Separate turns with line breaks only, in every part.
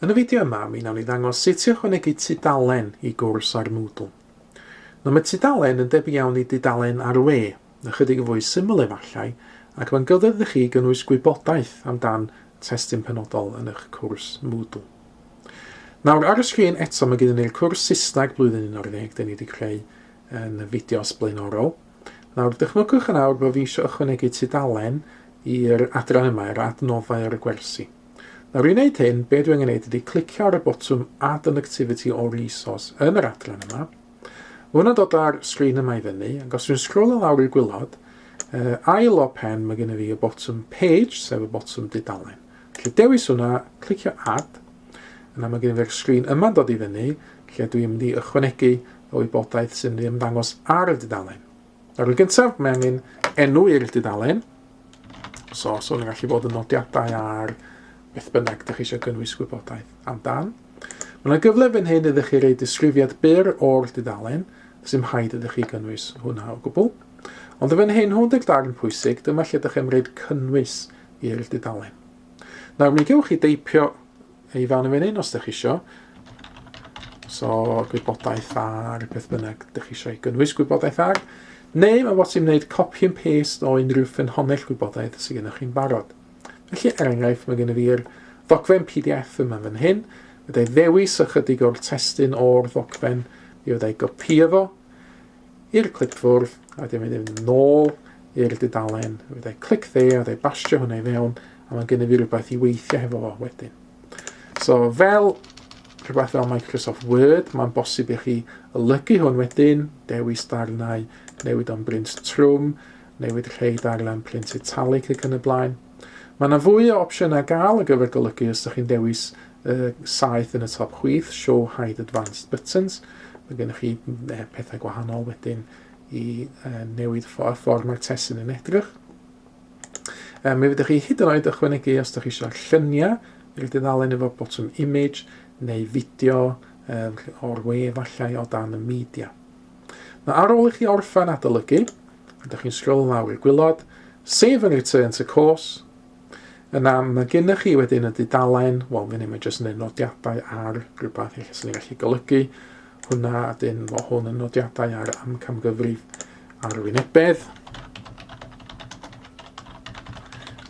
Yn y fideo yma, mi wnawn ni ddangos sut i ychwanegu tudalen i gwrs ar Moodle. Nawr mae tudalen yn debyg iawn i dudalen ar y we, ychydig yn fwy syml efallai, ac mae'n gyfle i chi gynnwys gwybodaeth amdan testun penodol yn eich cwrs Moodle. Nawr ar y sgrin eto mae gyda ni'r cwrs Saesneg blwyddyn 11 dyn ni wedi creu yn y fideos blaenorol. Nawr, dychmygwch yn awr bod fi eisiau ychwanegu tudalen i'r adran yma, i'r adnoddau ar y gwersi. Nawr, i wneud hyn, be dwi angen gwneud ydy clicio ar y botwm Add an Activity or Resource yn yr adran yma. Mae hwnna'n dod ar sgrin yma i fyny, ac os dwi'n sgrol yn lawr i'r gwylod, uh, ail o pen mae gennym fi y botwm Page, sef y botwm dudalen. Felly dewis hwnna, clicio Add, yna mae gennym fi'r sgrin yma'n dod i fyny, lle dwi'n mynd i ychwanegu o wybodaeth sy'n ei ymddangos ar y dudalen. Ar y gyntaf, mae angen enw i'r dudalen. So, so ni'n gallu bod yn nodiadau ar beth bynnag ydych chi eisiau gynnwys gwybodaeth amdan. Mae yna gyfle fan hyn ydych chi roi disgrifiad byr o'r dudalen, sy'n haid ydych chi gynnwys hwnna o gwbl. Ond y fan hyn, hwn deg darn pwysig, dyma lle ydych chi'n rhaid cynnwys i'r dudalen. Nawr, mi gewch chi deipio I fewn i fynhyn os ydych isio. So, gwybodaeth ar beth bynnag ydych chi eisiau gynnwys gwybodaeth ar. Neu mae bod ti'n gwneud copy and paste o unrhyw ffynhonnell gwybodaeth sydd gennych chi'n barod. Felly, er enghraifft, mae gennym fi'r ddogfen PDF yma fan hyn. Byddai ddewis ychydig o'r testyn o'r ddogfen, mi fyddai gopio fo, i'r clipfwrdd a dwi'n mynd i fynd nôl i'r dudalen, fe dau clic dde a dau bastio hwnna i fewn a mae'n gynnu fi rhywbeth i weithio hefo fo wedyn. So fel rhywbeth fel Microsoft Word, mae'n bosib i chi olygu hwn wedyn, dewis darnau, newid o'n brint trwm, newid rhai darllen print italic ac yn y blaen. Mae yna fwy o opsiynau gael ar gyfer golygu os ydych chi'n dewis uh, saeth yn y top chwith, Show Hide Advanced Buttons. Mae gennych chi uh, pethau gwahanol wedyn i uh, newid y ffordd mae'r testyn yn edrych. Um, mi fyddwch chi hyd yn oed ychwanegu os ydych chi eisiau lluniau i'r dudalen efo botwm image neu fideo um, o'r we efallai o dan y media. Mae ar ôl i chi orffen adolygu, ydych chi'n sgrol lawr i'r gwylod, Save and Return to Course. Yna, mae gennych chi wedyn y dudalen, wel, fe ni mae jyst yn ei nodiadau ar rhywbeth eich sy'n gallu golygu hwnna, a dyn fo hwn yn nodiadau ar amcamgyfrif arwynebedd.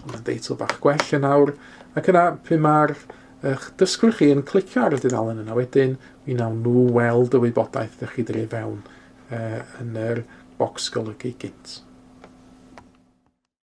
Mae'n deitl bach gwell yn awr, ac yna, pwy mae'r Eich dysgwr chi yn clicio ar y dudalen yna wedyn, mi wnawn nhw weld y wybodaeth ydych chi dref fewn yn yr bocs golygu gynt.